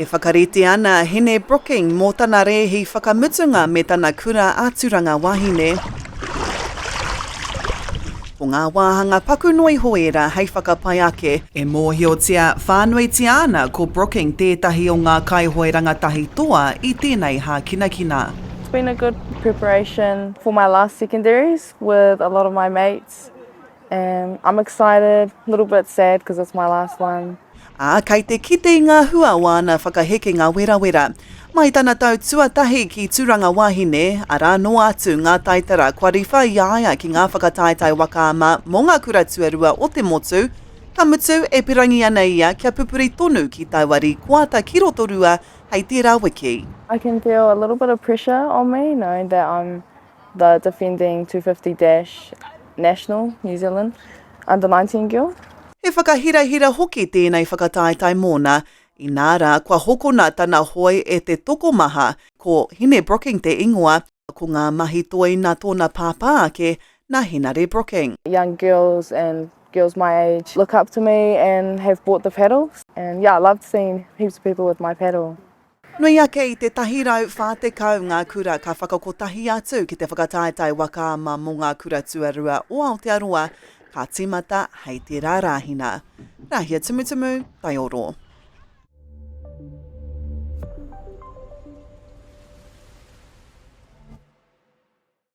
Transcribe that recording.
E whakarite ana a Hine Brooking mō tana rēhi whakamutunga me tana kura a Turanga Wahine. Ko ngā wāhanga paku noa iho ērā hei whakapai ake. E mōhiotia whānuitia ana ko Brooking tētahi o ngā kaihoe rangatahi toa i tēnei hākinakina. It's been a good preparation for my last secondaries with a lot of my mates And I'm excited, little bit sad because it's my last one. Ā, kei te kite i ngā hua o āna whakahekenga werawera. Mai tana tau tuatahi ki Tūranga Wāhine, arā noa atu ngā taitara kua riwha i a ia ki ngā whakataetae waka ama mō ngā kura tuarua o te motu, ka mutu e pirangi ana ia kia pupuri tonu ki taua rīkoata ki Rotorua hei tērā wiki. I can feel a little bit of pressure on me knowing that I'm the defending 250 dash national New Zealand under nineteen girl. He whakahirahira hoki tēnei whakataetae mōna, inā rā kua hokona tana hoe e te tokomaha, ko Hine Brooking te ingoa, ko ngā mahi toi nā tōna pāpā ake, nā Henare Brooking. young girls and girls my age look up to me and have bought the paddles and yeah I loved seeing heaps of people with my paddle. Nui ake i te tahi rau whā tekau ngā kura ka whakakotahi atu ki te whakataetae waka ama mō ngā kura tuarua o Aotearoa ka tīmata hei te rārāhina Rāhia Tumutumu Taioro.